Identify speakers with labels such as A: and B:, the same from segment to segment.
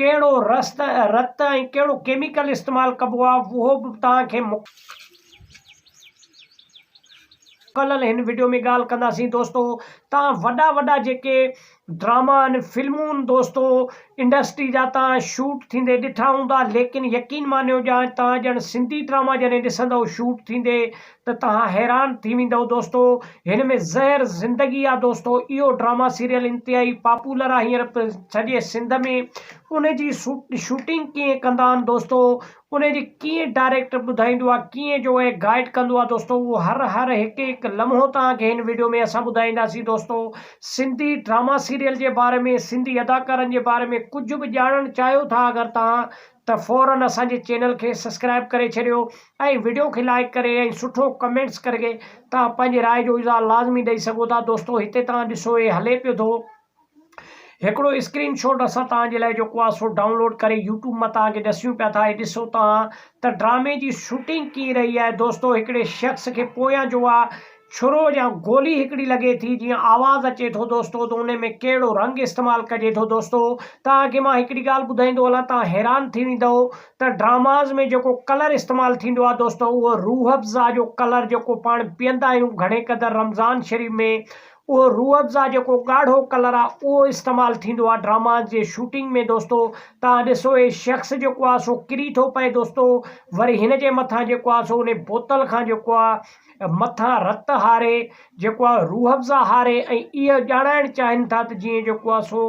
A: ڪهڙو رست رت ۽ ڪهڙو ڪيميڪل استعمال ڪبو آ اهو به توهان کي مڪلل هن وڊيو ۾ ڳالهه ڪنداسين دوستو توهان وڏا وڏا جيڪي ڊراما ان فلمون دوستو انڊسٽري جا توهان شوٽ ٿيندي ڏٺا هوندا ليڪن يقين مانيو جا توهان ڄڻ سنڌي ڊراما جڏهن ڏسندو شوٽ ٿيندي ته توهان حيران ٿي ويندؤ دوستو هن ۾ زهر زندگي آ دوستو اهو ڊراما سيريل انتهائي پاپولر آ هينئر سڄي سنڌ ۾ ان جي شوٽنگ ڪيئن ڪندا آن دوستو ان جي ڪيئن ڊائريڪٽر ٻڌائيندو آ ڪيئن جو اهي گائيڊ ڪندو آ دوستو اهو هر هر هڪ هڪ لمحو توهان کي هن ويڊيو ۾ اسان ٻڌائينداسين دوستو سنڌي ڊراما سيريل جي باري ۾ سنڌي اداڪارن جي باري ۾ ڪجهه به ڄاڻڻ چاهيو ٿا اگر توهان ته فورن اسان جي چينل کي سسڪرائب ڪري ڇڏيو ۽ وڊيو کي لائيڪ ڪري ۽ سٺو ڪمينٽس ڪرڪي توهان پنهنجي راء جو اظهار لازمي ڏئي سگهو ٿا دوستو هتي توهان ڏسو هي هلي پيو ٿو هڪڙو اسڪرين شوٽ اسان توهان جي لاء جيڪو آ سو ڊائونلوڊ ڪري يوٽيوب مان توهان کي ڏسيون پيا ٿا هي ڏسو توهان ته ڊرامي جي شوٽنگ ڪئين رهي آهي دوستو هڪڙي شخص کي پويان جو آ ڇرو يا گولي هڪڙي لڳي ٿي جيئن آواز اچي ٿو دوستو ته انهي ۾ ڪهڙو رنگ استعمال ڪجي ٿو دوستو توهان کي مان هڪڙي ڳالهه ٻڌائيندو هلان توهان حيران ٿي ويندؤ ته ڊراماز ۾ جيڪو ڪلر استعمال ٿيندو آهي دوستو اهو روح افزا جو ڪلر جيڪو پاڻ پيئندا آهيون گهڻي قدر رمضان شريف ۾ اهو روح افزا جيڪو ڳاڙهو ڪلر آهي اهو استعمال ٿيندو آهي ڊراماز جي شوٽنگ ۾ دوستو توهان ڏسو هي شخص جيڪو آهي سو ڪري ٿو پئي دوستو وري هن جي مٿان جيڪو آهي سو انهي بوتل کان جيڪو آهي مٿان رت هاري جيڪو آهي روح افزا هاري ۽ اهو ڄاڻائڻ چاهين ٿا ته جيئن جيڪو آهي سو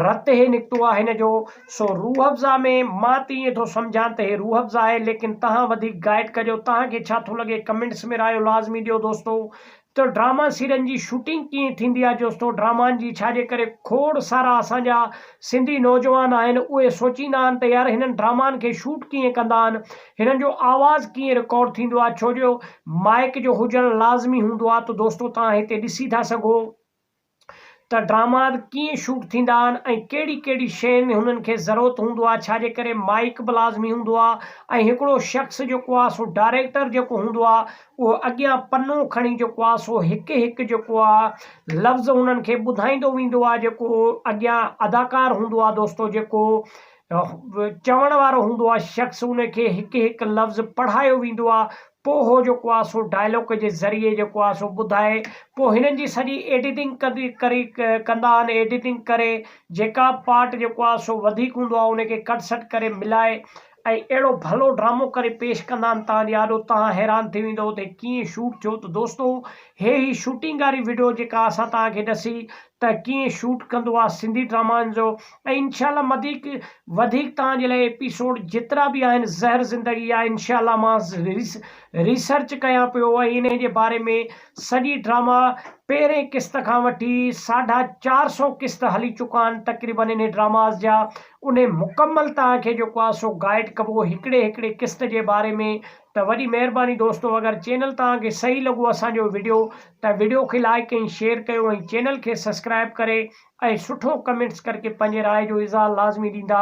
A: رت هي نڪتو آهي هن جو سو روح افزا ۾ مان ته ائين ٿو سمجهان ته هي روح افزا آهي ليڪن تهان وڌيڪ گائيڊ ڪجو تهان کي ڇا ٿو لڳي ڪمينٽس ۾ رايو لازمي ڏيو دوستو ته ڊراما سيرين جي شوٽنگ ڪيئن ٿيندي آهي دوستو ڊرامائن جي ڇا جي ڪري کوڙ سارا اسان جا سنڌي نوجوان آهن اهي سوچيندا آهن ته يار هنن ڊرامائن کي شوٽ ڪيئن ڪندا آهن هنن جو آواز ڪيئن رڪارڊ ٿيندو آهي ڇو جو مائيڪ جو هجڻ لازمي هوندو آهي ته دوستو توهان هتي ڏسي ٿا سگهو ته ڊراماز ڪيئن شوٽ ٿيندا آهن ۽ ڪهڙي ڪهڙي شين ۾ هنن کي ضرورت هوندو آهي ڇا جي ڪري مائيڪ به لازمي هوندو آهي ۽ هڪڙو شخص جيڪو آهي سو ڊائريڪٽر جيڪو هوندو آهي اهو اڳيان پنو کڻي جيڪو آهي سو هڪ هڪ جيڪو آهي لفظ هنن کي ٻڌائيندو ويندو آهي جيڪو اڳيان اداڪار هوندو آهي دوستو جيڪو چوڻ وارو هوندو آ شخص ان کي هڪ هڪ لفظ پڙهايو ويندو آ پو هو جيڪو آ سو ڊائلوڪ جي ذريعي جيڪو آ سو ٻڌائي پو هنن جي سڄي ايڊيٽنگ ڪندي ڪري ڪندا آن ايڊيٽنگ ڪري جيڪا به پارٽ جيڪو آ سو وڌيڪ هوندو آ ان کي ڪٽ سٽ ڪري ملائي ۽ اهڙو ڀلو ڊرامو ڪري پيش ڪندا آن تان جي آڏو تان حيران ٿي ويندؤ ته هي ڪيئن شوٽ ٿيو ته دوستو هي هي شوٽنگ واري وڊيو جيڪا اسان توهان کي ڏسي ته ڪيئن شوٽ ڪندو آ سنڌي ڊرامائن جو ۽ انشاء الله مديڪ وڌيڪ توهان جي لاء ايپيسوڊ جيترا به آهن زهر زندگي آ انشاء الله مان ريسرچ ڪيان پيو ۽ انهي جي باري ۾ سڄي ڊراما پهرين قسط کان وٺي ساڍا چار سو قسط هلي چڪا آهن تقريبا انهي ڊراماز جا انهي مڪمل توهان کي جيڪو آ سو گائيڊ ڪبو هڪڙي هڪڙي قسط جي باري ۾ ته وڏي مهرباني دوستو اگر چينل توهان کي صحيح لڳو اسان جو وڊيو ته وڊيو کي لائيڪ ۽ شيئر ڪيو ۽ چينل کي سسڪرائب ڪري ۽ سٺو ڪمينٽس ڪرڪي پنهنجي راء جو اظهار لازمي ڏيندا.